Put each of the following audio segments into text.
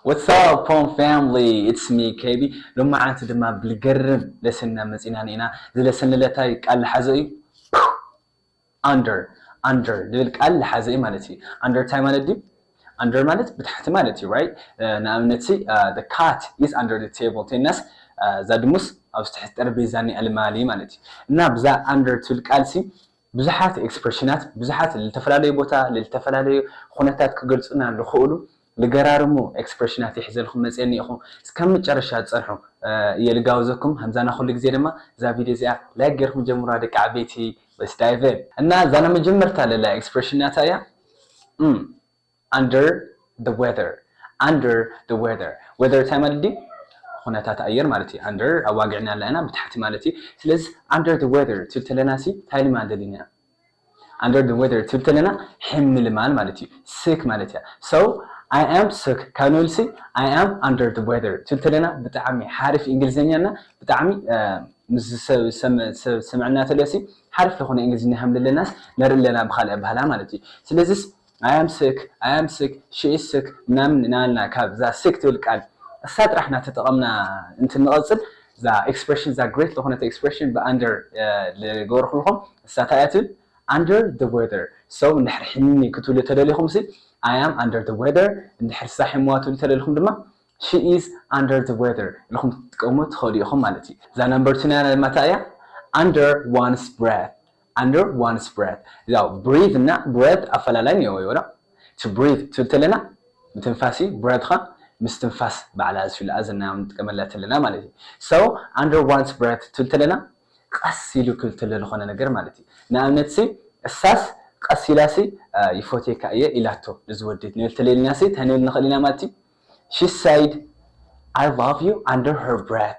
What's up Pom family it's me KB ሎማዓንቲ ድማ ብልገርም ለሰንና መጺና ኔና እዚ ለሰን ልለታይ ቃል ልሓዘ እዩ ፕው under under ልብል ቃል ልሓዘ እዩ ማለት እዩ under እንታይ ማለት ድዩ under ማለት ብታሕቲ ማለት እዩ right ንኣብነት ሲ the cat is under the table እንተይልናስ እዛ ድሙስ ኣብዚ ትሕቲ ጠረጴዛ ኒኣ ልማሊ ማለት እዩ እና ብዛ under ትብል ቃል ሲ ብዙሓት ኤክስፕሬሽናት ብዙሓት ልተፈላለዩ ቦታ ልተፈላለዩ ኩነታት ክገልጹና ልኽእሉ ልገራርሙ ኤክስፕረሽናት ይሕዘልኩም መጽየ እኒኤኹ እስካብ መጨረሻ ጸንሑ እየ ልጋብዘኩም ከምዛና ኩሉ ግዜ ድማ እዛ ቪድዮ እዚኣ ላይክ ገርኩም ጀምሩዋ ደቂ ዓበይቲ Let's dive in እና ዛና መጀመርታ ለላ ኤክስፕረሽን ናታ እያ እም under the weather under the weather weather እንታይ ማለት ድዩ ኩነታት ኣየር ማለት እዩ under ኣዋጊዕና ኣለና ብታሕቲ ማለት እዩ ስለዚ under the weather ትብል ተለና ሲ እንታይ ልማደሊና Under the weather ትብል ተለና ሕምልማል ማለት እዩ sick ማለት እያ so I am sick ካብ ንብልሲ I am under the weather ትብል ተለና ብጣዕሚ ሓሪፍ እንግሊዘኛ እና ብጣዕሚ ምስ ሰምዕና ተለሲ ሓሪፍ ዝኾነ እንግሊዝኛ ከም ዘለናስ ነርኢ ኣለና ብካልእ ኣባህላ ማለት እዩ ስለዚስ ኣይ ኣም ስክ ኣይ ኣም ስክ ሺ ኢዝ ስክ ምናምን እናበልና ካብ እዛ ስክ ትብል ቃል እሳ ጥራሕ እናተጠቐምና እንትንቐፅል እዛ ኤክስፕሬሽን እዛ ግሬት ዝኾነት ኤክስፕሬሽን ብኣንደር ዝገበርኩልኹም እሳ እንታይ እያ ትብል under the weather so እንድሕር ሕኒ ክትብሉ ተደሊኹም ሲ I am under the weather እንድሕር እሳ ሕሙዋ ትብሉ ተደሊኹም ድማ she is under the weather ኢልኹም ትጥቀሙ ትኸእሉ ኢኹም ማለት እዩ እዛ ነምበር ቱና ድማ እንታይ እያ under one's breath under one's breath እዛ breathe እና breath ኣፈላላይ እኒኦዎ እዩ ዋላ to breathe ትብል ተለና ምትንፋስ እዩ breath ኸ ምስ ትንፋስ ባዕላ ዝፊልኣ ዘና ንጥቀመላ ተለና ማለት እዩ so under one's breath ትብል ተለና ቐስ ኢሉ ክብል ተሎ ልኾነ ነገር ማለት እዩ ንኣብነት ሲ እሳስ ቐስ ኢላ ሲ ይፎትየካ እየ ኢላቶ ንዚ ወዲ ክንብል ተለና ሲ ታይ ንብል ንኽእል ኢና ማለት እዩ she said I love you under her breath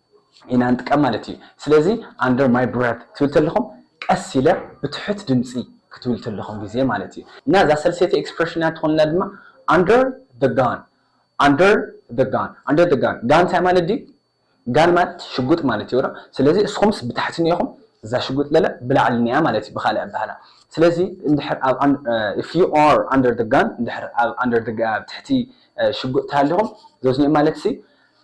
ኢና ንጥቀም ማለት እዩ ስለዚ under my breath ትብል ተለኹም ቀስ ኢለ ብትሑት ድምጺ ክትብሉ ተለኹም ግዜ ማለት እዩ እና እዛ ሰልሰይቲ expression እያ ትኾነና ድማ under the gun under the gun under the gun ጋን እንታይ ማለት ድዩ ጋን ማለት ሽጉጥ ማለት እዩ ስለዚ እስኹምስ ብታሕቲ ኒኢኹም እዛ ሽጉጥ ለለ ብላዕሊ ኒኣ ማለት እዩ ብኻልእ ኣባህላ ስለዚ እንድሕር ኣብ if you are under the gun እንድሕር ኣብ under the ትሕቲ ሽጉጥ ተሃሊኹም ዞዝኒኦም ማለት ሲ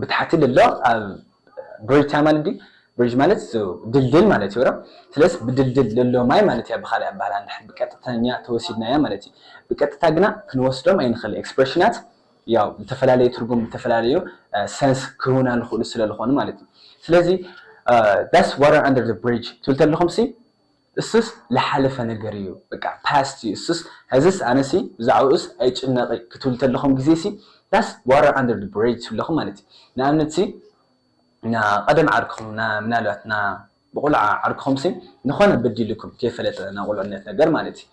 ብታሕቲ ልሎ ኣብ ብሪጅ ታይ ማለት ድዩ ብሪጅ ማለት እሱ ድልድል ማለት እዩ ሮ ስለስ ብድልድል ልሎ ማይ ማለት እያ ብካሊእ ኣባህላ እንድሕር ብቀጥተኛ ተወሲድናያ ማለት እዩ ብቀጥታ ግና ክንወስዶም ኣይንክል ኤክስፕረሽናት ያው ልተፈላለዩ ትርጉም ልተፈላለዩ ሰንስ ክህቡና ልክእሉ ስለልኮኑ ማለት እዩ ስለዚ ዳስ ዋተር ኣንደር ዘ ብሪጅ ትብል ተለኩም ሲ እሱስ ልሓለፈ ነገር እዩ በቃ past እዩ እሱስ ሐዝስ ኣነሲ ብዛዕብኡስ ኣይጭነቅ እየ ክትብሉ ተለኹም ግዜሲ thus water under the bridge ትብሉ ኣለኹም ማለት እዩ ንኣብነትሲ ና ቀደም ዓርክኹም ና ምናልባት ና ብቁልዓ ዓርክኹምሲ ንኾነ በዲሉኩም ከይፈለጠ ና ቁልዕነት ነገር ማለት እዩ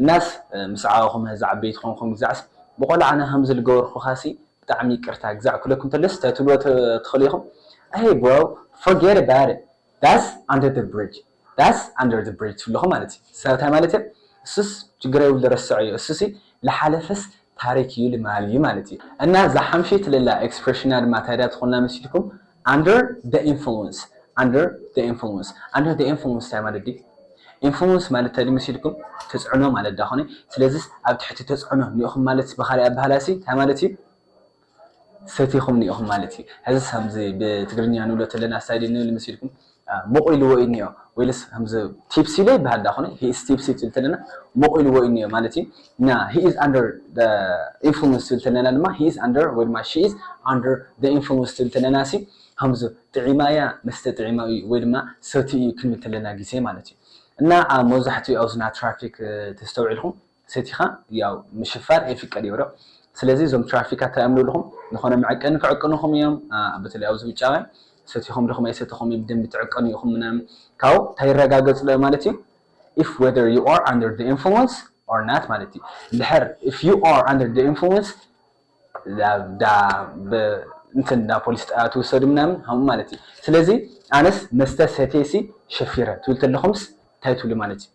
እናስ ምስ ዓበኹም ሐዚ ዓበይቲ ኾንኩም ግዛዕስ ብቆልዓና ከምዚ ልገበርኹኻሲ ብጣዕሚ ይቅርታ ግዛዕ ክብለኩም ተለስ ታይ ትብልዎ ትኽእሉ ኢኹም Hey bro forget about it that's under the bridge ዳስ ኣንደር ዘ ብሪጅ ትብልኹ ማለት እዩ እሳ እንታይ ማለት እዮ እሱስ ችግር የብሉ ረሰዖ እዮ እሱሲ ልሓለፈስ ታሪክ እዩ ልማል እዩ ማለት እዩ እና እዛ ሓምሸይቲ ለላ ኤክስፕረሽና ድማ ታይ ድያ ትኾና መሲልኩም ኣንደር ዘ ኢንፍሉንስ ኣንደር ዘ ኢንፍሉንስ ኣንደር ዘ ኢንፍሉንስ ታይ ማለት ድዩ ኢንፍሉንስ ማለት ታይ ድዩ መሲልኩም ተፅዕኖ ማለት ዳኾነ ስለዝስ ኣብ ትሕቲ ተፅዕኖ እኒኦኹም ማለትስ ብኻሊእ ኣባህላሲ ታይ ማለት እዩ ፈቲኹምኒ ኢኹም ማለት እዩ ሐዝስ ከምዚ ብትግርኛ ንብሎ ተለና ስታይል ንብል መሲልኩም ሞቕ ኢልዎ እዩ እኒኦ ወይልስ ከምዚ ቲፕሲ ዶ ይበሃል ዳኣ ኮነ ሂ ኢዝ ቲፕሲ ትብል ተለና ሞቕ ኢልዎ እዩ እኒኦ ማለት እዩ እና ሂ ኢዝ ኣንደር ዘ ኢንፍሉንስ ትብል ተለና ድማ ሂ ኢዝ ኣንደር ወይ ድማ ሺ ኢዝ ኣንደር ዘ ኢንፍሉንስ ትብል ተለና ሲ ከምዚ ጥዒማ እያ መስተ ጥዒማ እዩ ወይ ድማ ሰትዩ እዩ ክንብል ተለና ግዜ ማለት እዩ እና መብዛሕትኡ ኣብዝና ትራፊክ ተስተውዒልኩም ሰቲኻ ያው ምሽፋር ኣይፍቀድ እዮ ዶ ስለዚ እዞም ትራፊካት ታይ እዮም ልብልኹም ልኾነ መዐቀኒ ክዕቅኑኹም እዮም በተለይ ኣብዚ ውጫውያን ሰቲኹም ድኹም ኣይሰተኹም ብደንቢ ትዕቀኑ ኢኹም ምናምን ካብኡ ታይ ይረጋገፅ ዶ ማለት እዩ if whether you are under the influence or not ማለት እዩ እንድሕር if you are under the influence እንትን ናብ ፖሊስ ጣብያ ትውሰዱ ምናምን ከምኡ ማለት እዩ ስለዚ ኣነስ መስተ ሰትየሲ ሸፊረ ትብል ተለኹምስ እንታይ ትብሉ ማለት እዩ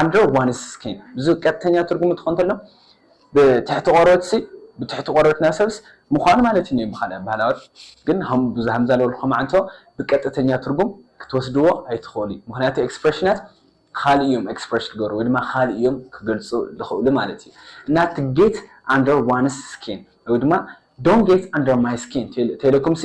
ኣንድሮ ዋንስኪን ብዙ ቀጥተኛ ትርጉሙ ትኾን ተሎ ብትሕቲ ቆርበትሲ ብትሕቲ ቆርበትና ሰብስ ምዃኑ ማለት እዩ ብኻልእ ኣባህላዎት ግን ብዙ ሃምዛ ለወልኩም ዓንቶ ብቀጥተኛ ትርጉም ክትወስድዎ ኣይትኽእሉ ምክንያቱ ኤክስፕሬሽናት ካልእ እዮም ኤክስፕሬሽ ክገሩ ወይ ድማ ካልእ እዮም ክገልጹ ዝኽእሉ ማለት እዩ እና እቲ ጌት ኣንደር ዋንስ ስኪን ወይ ድማ ዶን ጌት ኣንደር ማይ ስኪን ተይለኩምሲ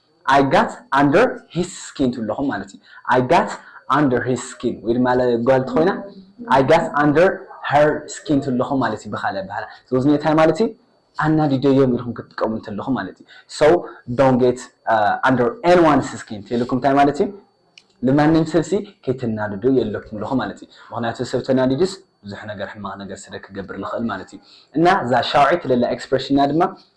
I got under his skin ትብሉ ኣለኹም ማለት እዩ። I got under his skin ወይ ድማ ጓል እንተኾይና I got under her skin ትብሉ ኣለኹም ማለት እዩ ብኻልእ ኣበሃህላ። ስለዚ እንታይ ማለት እዩ? ኣናዲደዮም ኢልኩም ክትጥቀሙ እንተለኹም ማለት እዩ። So don't get uh, under anyone's skin ተይልኩም እንታይ ማለት እዩ? ንማንም ሰብሲ ከይተናድዱ የለኩም ኣለኹ ማለት እዩ። ምክንያቱ ሰብ ተናዲዱስ ብዙሕ ነገር ሕማቕ ነገር ስለ ክገብር ልኽእል ማለት እዩ። እና እዛ ሻውዒት ለላ ኤክስፕሬሽንና ድማ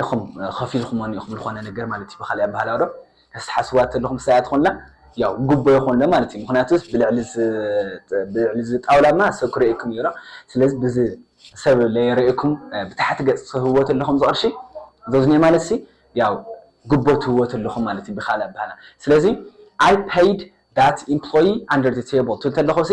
ኢኹም ከፊልኩሞኒ ኢኹም ዝኾነ ነገር ማለት እዩ ብኻሊእ ኣበሃህላ ዶ ተትሓስብዋ ተለኹም ሰብኣያ ትኾንላ ያው ጉቦ ይኾንሎ ማለት እዩ ምኽንያቱ ብልዕሊ እዚ ጣውላ እማ ሰብ ክርእየኩም እዩ ዶ ስለዚ ብዚ ሰብ ለይረእየኩም ብታሕቲ ገፅ ትህብዎ ተለኹም እዚ ቅርሺ ዘዝኔ ማለት ሲ ያው ጉቦ ትህብዎ ተለኹም ማለት እዩ ብኻሊእ ኣበሃህላ ስለዚ I paid that employee under the table ትብል ተለኹ ሲ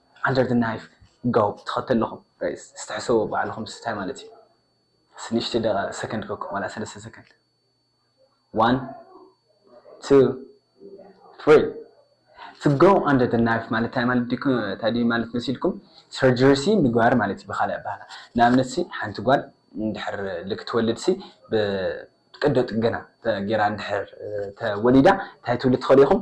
ኣንደር ዘ ናይፍ ጋውፕ ተኸተልኹም ጋይስ እስቲ ሕሰብዎ ባዕልኹም እስቲ ታይ ማለት እዩ እስቲ ንእሽተይ ደቂቃ ሰከንድ ከኩም ዋላ ሰለስተ ሰከንድ ዋን ቱ ትሪ to go under the knife ማለት ታይ ማለት ዲኩ ታይ ድዩ ማለት መሲልኩም ሰርጀሪ ሲ ምግባር ማለት እዩ ብካልእ ኣባህላ ንኣብነት ሲ ሓንቲ ጓል እንድሕር ልክ ትወልድ ሲ ብቀዶ ጥገና ገይራ እንድሕር ተወሊዳ ታይ ትብሉ ትኽእሉ ኢኹም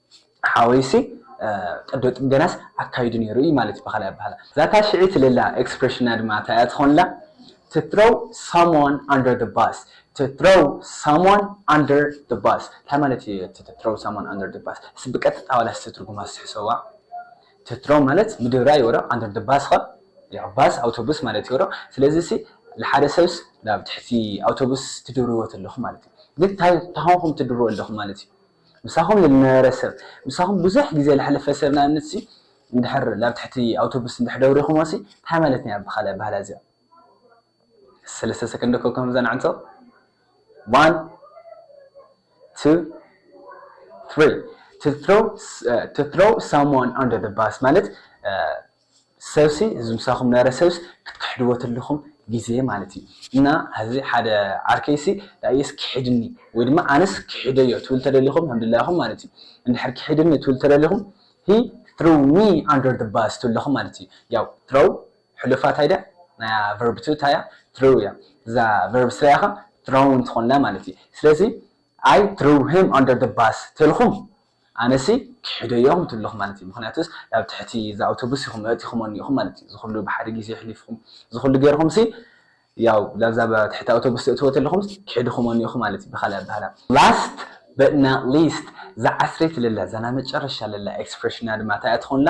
ሓወይሲ ቀዶ ጥገናስ ኣካይዱ ነይሩ እዩ ማለት እዩ ብኻልእ ኣበሃህላ። ዛታ ሽዒ ትልላ ኤክስፕረሽና ድማ እንታይ እያ ትኾንላ? to throw someone under the bus to throw someone under the bus እንታይ ማለት እዩ እቲ to throw someone under the bus? እስኪ ብቀጥታ ዋላ እስቲ ትርጉማ እስቲ ሕሰብዋ። to throw ማለት ምድብራይ እዩ ዶ under the bus ኸ ያው ባስ ኣውቶቡስ ማለት እዩ ዶ ስለዚ ሲ ንሓደ ሰብስ ናብ ትሕቲ ኣውቶቡስ ትድርብዎ ተለኹም ማለት እዩ ግን እንታይ እንታይ ኾንኩም ትድርብዎ ኣለኹም ማለት እዩ ምሳኹም ልነበረ ሰብ፣ ምሳኹም ብዙሕ ግዜ ለሕለፈ ሰብ ንኣብነትሲ እንድሕር ላብ ትሕቲ ኣውቶቡስ እንድሕር ደውሪኹሞሲ ታይ ማለት እያ ብኻልእ ኣባህላ እዚኣ ሰለስተ ሰከንድ እኮ ከምዛ ንዕንቶ ዋን ቱ ትሪ to throw to throw someone under the bus ማለት ሰብሲ እዚ ምሳኹም ነረ ሰብስ ክትክሕድዎ ተለኹም ግዜ ማለት እዩ እና ሀዚ ሓደ ዓርከይሲ ዳኢየስ ኪሕድኒ ወይ ድማ ኣነስ ኪሕደዮ ትብል ተደሊኹም ኣምድላኹም ማለት እዩ እንድሕር ኪሕድኒ ትብል ተደሊኹም ሂ ትሮው ሚ ኣንደር ዘ ባስ ትብለኹም ማለት እዩ ያው ትሮው ሕሉፋ ታይ ድያ ናያ ቨርብ ቱ ታያ ትሮው እያ እዛ ቨርብ ስሪያ ከ ትሮውን ትኾንላ ማለት እዩ ስለዚ ኣይ ትሮው ሂም ኣንደር ዘ ባስ ተልኹም ኣነሲ ክሕደዮ ምት ኣለኹ ማለት እዩ ምኽንያቱስ ናብ ትሕቲ እዛ ኣውቶቡስ ኢኹም ኣእቲኹም ኣኒኢኹም ማለት እዩ ዝኹሉ ብሓደ ግዜ ኣሕሊፍኹም ዝኹሉ ገርኹምሲ ያው ላብዛ ትሕቲ ኣውቶቡስ ተእትዎ ተለኹምስ ክሕድኹም ኣኒኢኹም ማለት እዩ ብኻልእ ኣባህላ Last but not least እዛ ዓስረይቲ ለላ እዛ ናይ መጨረሻ ለላ ኤክስፕረሽና ድማ እንታይ እያ ትኾንላ?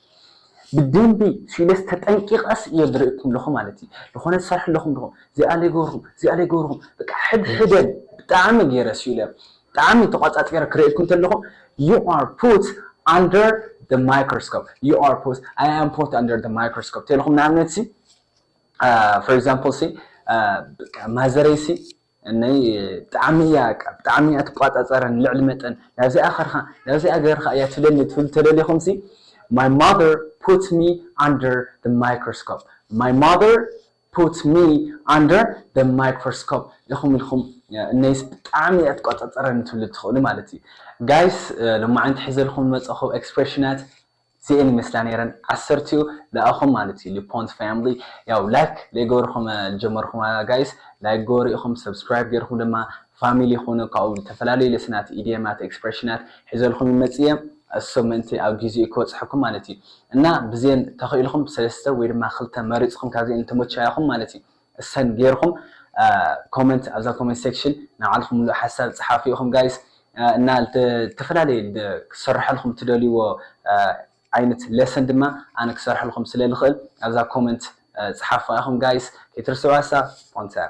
ብደንቢ ስኢለስ ተጠንቂቀስ እየ ዝርእኩም ለኹ ማለት እዩ ልኾነ ትሰርሑ ለኹም ድኹም ዚኣ ለይገብርኹም ዚኣ ለይገብርኹም በቃ ሕድሕደን ብጣዕሚ ገይረ ስኢለ ብጣዕሚ ተቋጻጺረ ክርእኩም ተለኹ you are put under the microscope you are put I am put under the microscope ተለኹም ንኣብነት ሲ for example ሲ ማዘረይ ሲ እነይ ብጣዕሚ እያ በቃ ብጣዕሚ እያ ትቋጻጸረን ልዕሊ መጠን ናብዚኣ ከርካ ናብዚኣ ገርካ እያ ትብለኒ ትብሉ ተደሊኹምሲ my mother put me under the microscope my mother put me under the microscope ኢኹም ኢልኩም እነይስ ብጣዕሚ እያ ትቋጻጸረኒ ትብሉ ትኽእሉ ማለት እዩ ጋይስ ሎማዓንቲ ሒዘልኩም ዝመጸኹ ኤክስፕሬሽናት እዚኤን ይመስላ ነይረን ዓሰርቲኡ ለኣኹም ማለት እዩ ሊፖንት ፋምሊ ያው ላይክ ለይገበርኹም ልጀመርኹማ ጋይስ ላይክ ግበሩ ኢኹም ሰብስክራይብ ገይርኹም ድማ ፋሚሊ ኹኑ ካብኡ ልተፈላለዩ ለስናት ኢድየማት ኤክስፕረሽናት ሒዘልኹም ይመጽእ እየ እሱ ምእንቲ ኣብ ጊዜኡ ክበጽሐኩም ማለት እዩ እና ብዜን ተኽኢልኹም ሰለስተ ወይ ድማ ክልተ መሪጽኹም ካብዚኤን ልተመቸያኹም ማለት እዩ እሰን ገይርኹም ኮመንት ኣብዛ ኮመንት ሴክሽን ናይ ባዕልኹም ምሉእ ሓሳብ ፀሓፉ ኢኹም ጋይስ እና ዝተፈላለየ ክሰርሐልኹም ትደልይዎ ዓይነት ሌሰን ድማ ኣነ ክሰርሐልኹም ስለ ልኽእል ኣብዛ ኮመንት ፀሓፉዋ ኢኹም ጋይስ ከይትርስዕዋ እሳ ስፖንሰር